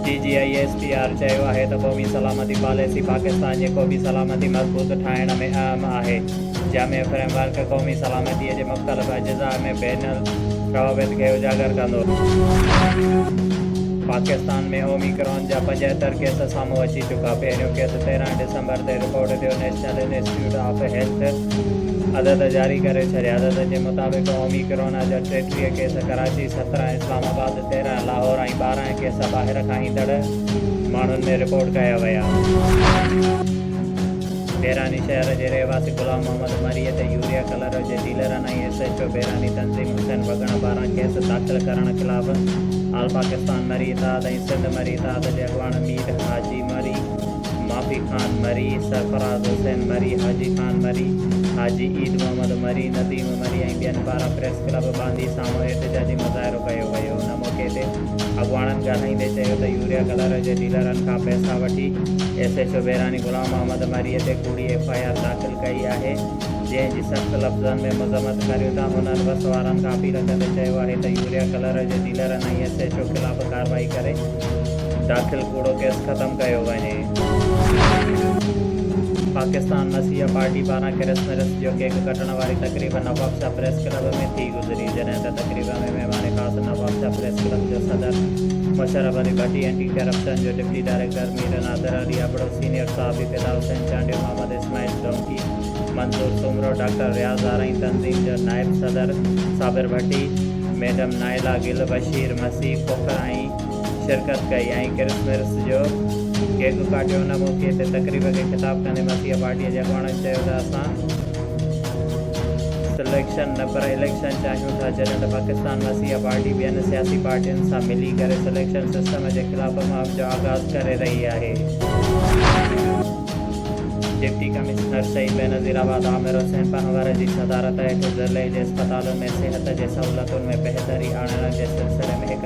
D G I S P R چيو آهي ته قومي سلامتي پاليسي پاڪستان جي قومي سلامتي مضبوط ٺاهڻ ۾ اهم آهي. جامع فريم ورڪ قومي سلامتي جي مختلف اجزاء ۾ بين الروابط کي اجاگر ڪندو. پاڪستان ۾ اوميڪرون جا پنجهتر ڪيس سامهون اچي چڪا، پهريون ڪيس تيرهن ڊسمبر تي رپورٽ ٿيو، نيشنل انسٽيٽيوٽ آف هيلٿ عدد جاري ڪري ڇڏيا، عددن جي مطابق اوميڪرون جا ٽيٽيهه ڪيس ڪراچي، سترهن اسلام آباد، تيرهن لاهور ۽ ٻارهن ڪيس ٻاهر کان ايندڙ ماڻهن ۾ رپورٽ ڪيا ويا. بيراني شهر جي رهواسي غلام محمد مري تي يوريا ڪلر جي ڊيلرن ۽ ايس ايڇ او بيراني تنظيم حسين وڳڻ پاران ڪيس داخل ڪرڻ خلاف آل پاڪستان مري اتحاد ۽ سنڌ مري اتحاد جي اڳواڻ مير حاجي مري ماپي خان مري، سرفراز حسين مري، حاجي خان مري، حاجي عيد محمد مري، نديم مري ۽ ٻين پاران پريس ڪلب باندي سامهون احتجاجي مظاهرو ڪيو ويو. ان موقعي تي اڳواڻن ڳالهائيندي چيو ته يوريا ڪلر جي ڊيلرن کان پئسا وٺي S H O Berani Ghulam Muhammad Marri تي ڪوڙي ايف آء آر داخل ڪئي آهي جنهن جي سخت لفظن ۾ مذمت ڪريون ٿا هنن بس وارن کان اپيل ڪندي چيو آهي ته يوريا ڪلر جي ڊيلرن ۽ ايس ايڇ او خلاف ڪارروائي ڪري داخل ڪوڙو ڪيس ختم ڪيو وڃي. پاڪستان مسيحا پارٽي پاران ڪرسمرس جو ڪيڪ ڪٽڻ واري تقريب نوابشاهه پريس ڪلب ۾ ٿي گذري جڏهن ته تقريب ۾ مهمان خاص نوابشاهه پريس ڪلب جو صدر مشرف علي ڀٽي اينٽي ڪرپشن جو deputy director Mir Nadir Ali Abro senior صحافي فدا حسين چانڊيو محمد اسماعيل ڊونڪي منظور سومرو ڊاڪٽر رياض آرائين تنظيم جو نائب صدر صابر ڀٽي ميڊم نائلا گل بشير مسيح کوکر ۽ شرڪت ڪئي ۽ ڪرسمرس جو ڪيڪ ڪاٽيو ان موقعي تي تقريب کي خطاب ڪندي مٿيء پارٽيء جي اڳواڻن چيو ته اسان سليڪشن نه پر اليڪشن چاهيون ٿا جڏهن ته پاڪستان مسيحا پارٽي ٻين سياسي پارٽين سان ملي ڪري سليڪشن سسٽم جي خلاف مهم جو آغاز ڪري رهي آهي. Deputy commissioner Saeed Benazirabad Amir Hussain Panhwar جي صدارت هيٺ ضلعي جي اسپتالن ۾ صحت جي سهولتن ۾ بهتري آڻڻ جي سلسلي ۾ هڪ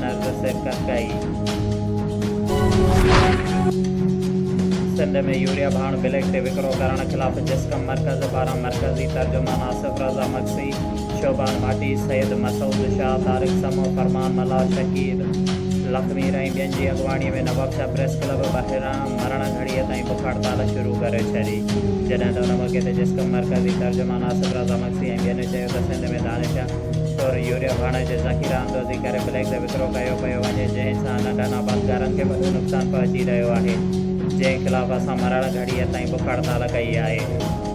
نرگس ڪرڪائي. سنڌ ۾ يوريا ڀاڻ بليڪ تي وڪرو ڪرڻ خلاف جسقم مرڪز پاران مرڪزي ترجمان آصف رضا مگسي، شعبان ڀاٽي، سيد مسعود شاهه، طارق سمون، فرمان ملاح، شڪيل لکمير ۽ ٻين جي اڳواڻي ۾ نوابشاهه پريس ڪلب ٻاهران مرڻ گهڙيء تائين بک هڙتال شروع ڪري ڇڏي، جڏهن ته ان موقعي تي جسقم مرڪزي ترجمان آصف رضا مگسي ۽ ٻين چيو ته سنڌ ۾ دانشيا طور يوريا ڀاڻ جي ذخيره اندوزي ڪري بليڪ تي وڪرو ڪيو پيو وڃي جنهن سان ننڍن آبادگارن کي وڏو نقصان پهچي رهيو آهي جنهن خلاف اسان مرڻ گهڙيء تائين بک هڙتال ڪئي آهي.